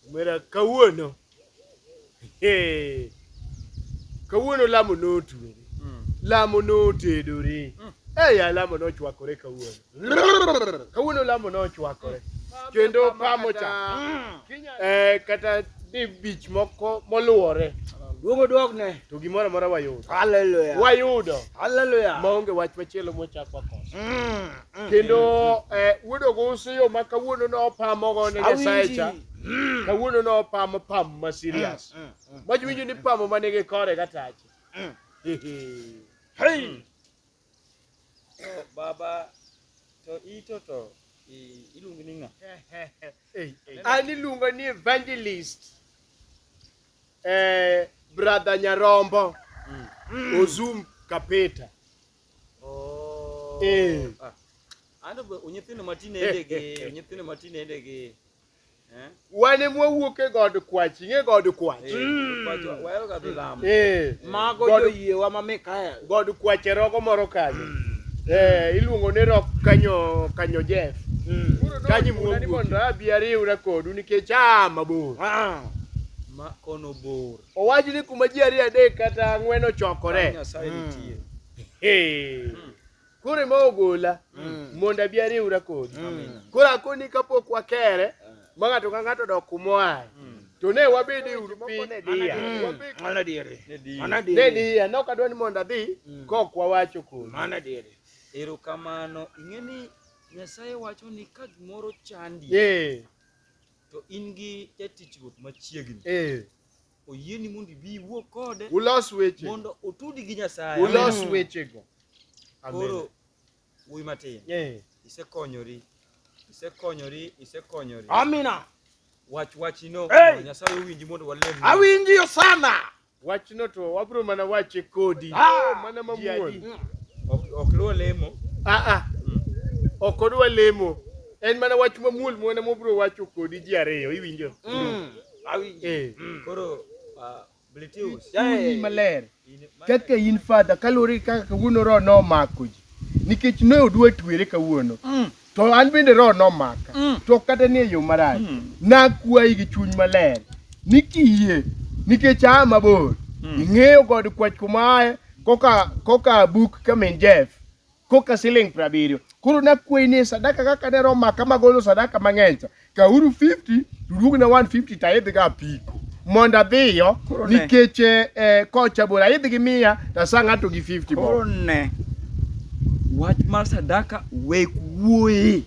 Mera kawuono. Hey. Kawuono lamo notwere. Mm. Lamo notedore. Mm. Hey, lamo nochwakore kawuono. Kawuono lamo nochwakore. Mm. Kendo pamo cha. Mm. Eh, kata ni bich moko moluwore. Duogo duog ne. To gimoro amora wayudo. Hallelujah. Wayudo. Hallelujah. Maonge wach machielo mochakwa koso. Mm. Mm. kendo eh, wuod ogusu yo ma kawuono nopamogo ne nyasaye cha mm. kawuono nopamo pamo ma serious mm, mach winjo ni pamo ma nigi kore katache baba to ito to iluongi ni ng'a an iluonga ni evangelist eh, brother nyarombo ozum kapeta Oh. Eh. Ah. Ando be nyithindo matinende gi nyithindo matinende gi eh? wan ema wawuok e god kwach ing'e god kwach Eh, Mm. kwacho- waheroga dhi lamo. Eh, Mago God- joyiewa ma Mikael. god kwach e rogo moro kanyo Eh, iluongo ni rok kanyo kanyo jeff kanyo mwuogi mondo abi ariwra kodu nikech aa mabor Ah. Ma kono bor. Owach ni kuma ji ariyo adek kata ang'wen ochokore. Hmm. Koro ema ogola hmm. mondo abi ariwra kodi. Hmm. Koro akoni kapok wakere ma ng'ato ka ng'ato odok kuma oaye. To ne wabede uru piny ne diya. Mana diere. Mana diere. Ne diya. Nok adwa ni mondo adhi kok wawacho kodi. Mana diere. Erokamano. Ing'e ni Nyasaye wacho ni ka gimoro chandi. Yeah. To in gi jatich ruoth machiegni. Eh. Oyieni mondo ibi iwuo kode. Ulos weche. Mondo otudi gi Nyasaye. Ulos mm. weche go. Koro wuoyi matin. Eh. Isekonyori. Isekonyori, isekonyori. Amina. Wach wachino. Hey. Nyasaye owinji mondo walem. Awinji sana. Wachno to wabro mana wache kodi. Ah, mana mamuol. Ok luwo lemo. Ah ah. Mm. Ok odwa lemo. En mana wach mamuol mwana mobro wacho kodi ji ariyo iwinjo. Mm. Awinjo. Eh. Mm. Koro ah, Blitius. Yaani maler. Kaka in father kalori kaka kawuono ro nomako ji. Nikech ne odwa twere kawuono. Mm. To an bende roho nomaka. Mm. To ok kata ni e yo marach. Mm. Nakwayi gi chuny maler ni kiyie nikech aa mabor. Mm. Ing'eyo god kwach kuma aye koka koka buk kamin Jeff koka siling' prabiriyo. Koro nakwayi ni e sadaka kaka ne roho maka magolo sadaka mang'eny cha. Kauru 50 tuduog na 150 ta idhi ga piko mondo adhiyo Koro ne. nikech eh, eh, kocha bora idhi gi mia tasa ng'ato gi 50 bob. Koro ne wach mar sadaka wek wuoye.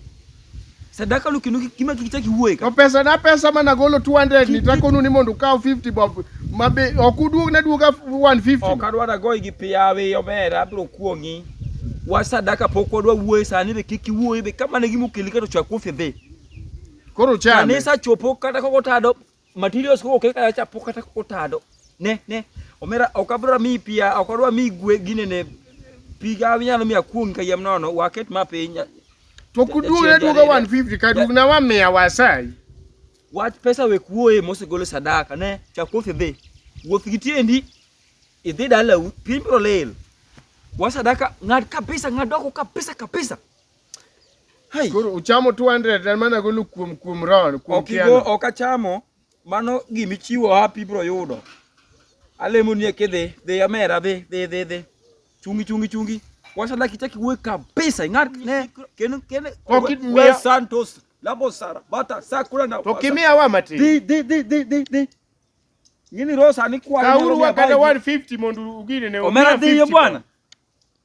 Sadaka no kendo kima kichaki wuoye ka. To pesa na pesa mana golo 200 ni takonu ni mondo ukaw 50 bob mabe ok uduog na duoga 150. Ok adwa da goyi gi piyawi omera abiro kuong'i. Wach sadaka pok wadwa wuoye sani be kik iwuoye be kama ne gimokeli ka to chwa kuom fedhe. Koro chame. Kanisa chopo kata koko tado materials koko keka ya chapo kata koko tado. Ne ne omera okabra mi pia okodwa mi gwe gine ne piga nyalo mi akuong ka yem nono waket ma piny. To kuduog ne duoga 150 ka duog na wa mia wasai. Wach pesa we kuoye mosegolo sadaka ne chakothi dhi. Wuoth gi tiendi idhi dalau piny bro lil. Wasadaka ng'ad kabisa ng'ad oko kabisa kabisa. Hai. Koro uchamo 200 en mana golo kuom kuom ron kuom Ok igo kiano. ok achamo mano gima ichiwo happy bro yudo. Alemo ni kidhi dhi amera dhi dhi dhi dhi. Chungi chungi chungi. Washa laki chaki we kabisa ingat ne ken ken Ok we- imiya- we Santos labo sara bata sakura na. To kimia wa mati. Dhi dhi dhi dhi dhi dhi. Ngini rosa ni kwa. Kauru wa kada 150 mondo ugine ne. Omera dhi yo bwana.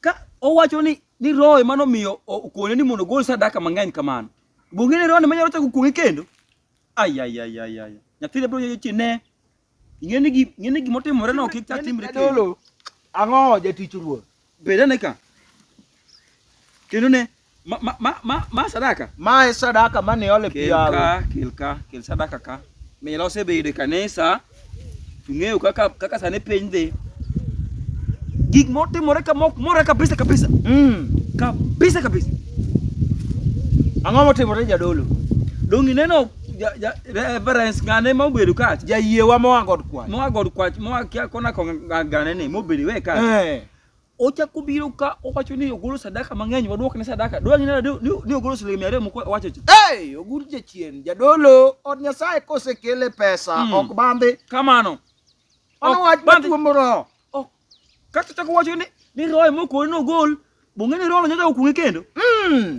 Ka owacho ni ni roho ema nomiyo okone ni mondo ogol sadaka mang'eny kamano. Bong'e ni roho ema nyalo chako kuong'e kendo. Ay ay ay ay ay. Nyathine bro nyoyo chi ne. Ing'e ni gi ing'e ni gima otimore no kik chak timre kendo. Jadolo, ang'o jatich ruoth? Beda ne ka. Kendo ne Ma, ma, ma, ma, ma sadaka. Ma e sadaka mane ole pi yawe. Kelka, kelka, kel sadaka ka. Mila osebedo e kanisa. Tung'eyo kaka kaka sane piny dhi. Gik motimore ka mok mora kabisa kabisa. Mm. Kabisa kabisa. Ang'o motimore jadolo? Dongi neno reverence ngane ma obedo ka ja yie wa moa god kwach moa god kwach moa kia kona ko ngane ni mobedo we ka eh. Ochako obiro ka owacho ni ogolo sadaka mang'eny, wadwok ne sadaka. Dwa ng'ina ni ogolo siling mia ariyo moko wacho cha. Hey, ogur jachien, jadolo, od Nyasaye kosekele pesa, mm. ok bandhi. Kamano. Ono wach matuomo roho. Ok. Kata chako wacho ni ni roho moko ni ogol, bong'e ni roho nyoda okung'e kendo. Mm.